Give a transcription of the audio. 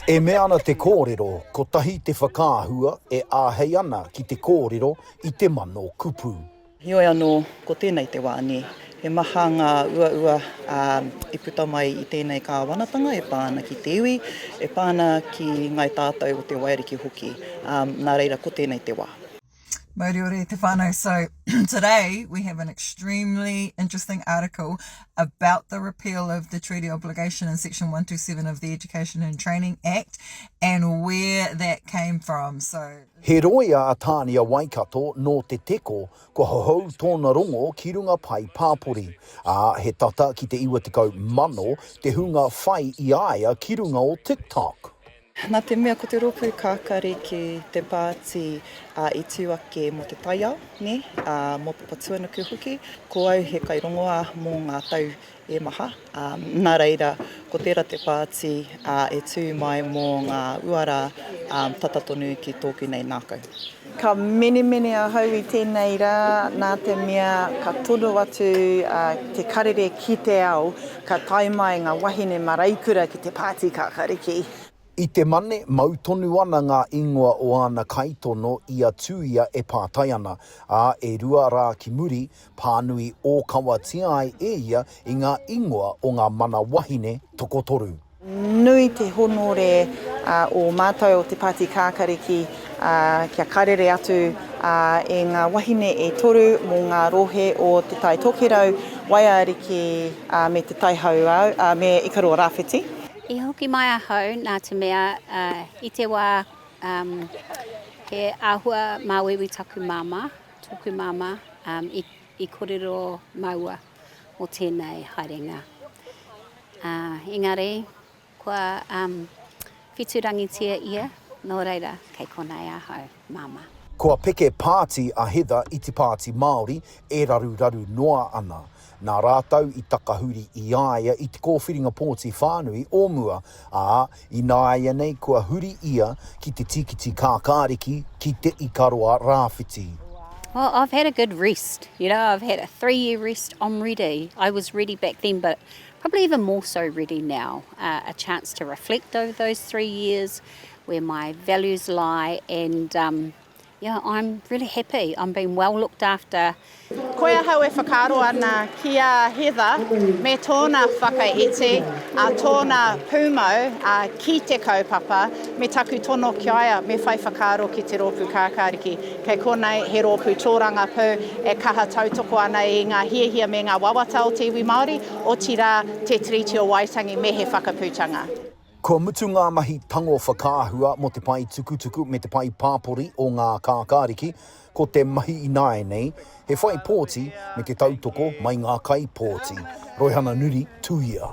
E mea ana te kōrero, kotahi te whakaahua e āhei ana ki te kōrero i te mano kupu. Heoi anō, ko tēnei te wā, nē. He maha ngā uaua i puta mai i tēnei kāwanatanga e pā ana ki te iwi, e pā ana ki ngāi tātou o Te Wairiki hoki, nā reira ko tēnei te wā. Mauriore te whānau. So today we have an extremely interesting article about the repeal of the treaty obligation in section 127 of the Education and Training Act and where that came from. So He roia a Tānia Waikato nō Te Teko, kua hohou tōna rongo ki runga pae pāpori, ā, he tata ki te 90 mano te hunga whai i a ia ki runga o TikTok. Nā te mea ko te rōpū kakari ki te pāti i tū ake mō te taiao, nē, mō Papatuanuku hoki, ko au he kairongoā mō ngā tau e maha, nā reira ko tērā te pāti e tū mai mō ngā uara tata tonu ki tōku nei ngākau. Ka menemene ahau i tēnei rā nā te mea ka tono atu te karere ki te ao, ka tae mai ngā wahine maraikura ki te pāti kākāriki. I te Mane, mau tonu ana ngā ingoa o āna kaitono i a Tūia e pātai ana, ā, e rua rā ki muri, pānui ōkawatia ai e ia i ngā ingoa o ngā mana wahine tokotoru. Nui te honore o mātou o te Pāti Kākariki kia karere atu e ngā wahine e toru mō ngā rohe o Te Tai Tokerau, Waiariki me Te Tai Hauāuru, ā, me Ikaroa Rāwhiti. I hoki mai ahau nā te mea i te wā he āhua māuiui taku māmā, tōku māmā i kōrero māua mō tēnei haerenga. Ā, engari, kua, um, whiturangitia ia, nō reira, kei konei ahau, Māmā. Kua peke pāti a Heather i te Pāti Māori e raruraru noa ana. Nā rātou i takahuri i a ia i te kōwhiringa pōti whānui o mua, ā, ināianei kua huri ia ki te tīkiti kākāriki ki Te Ikaroa Rāwhiti. Well, I've had a good rest, you know, I've had a three-year rest, I'm ready, I was ready back then, but Probably even more so ready now, a chance to reflect over those three years, where my values lie and yeah, I'm really happy, I'm being well looked after. Koe ahau e whakaaro ana ki a Heather me tōna whakaiti, tōna pūmau ki te kaupapa, me taku tono ki a ia, me whai whakaaro ki te rōpū kākāriki. Kei konei he rōpū tōrangapū e kaha tautoko ana i ngā hiahia me ngā wawata o te iwi Māori, otirā Te Tiriti o Waitangi me he whakaputanga. Kua mutu ngā mahi tango whakaahua mō te pae tukutuku me te pae pāpori o ngā kākāriki, ko te mahi ināianei, he whai pōti me te tautoko mai ngā kaipōti. Roihana Nuri, Tuia.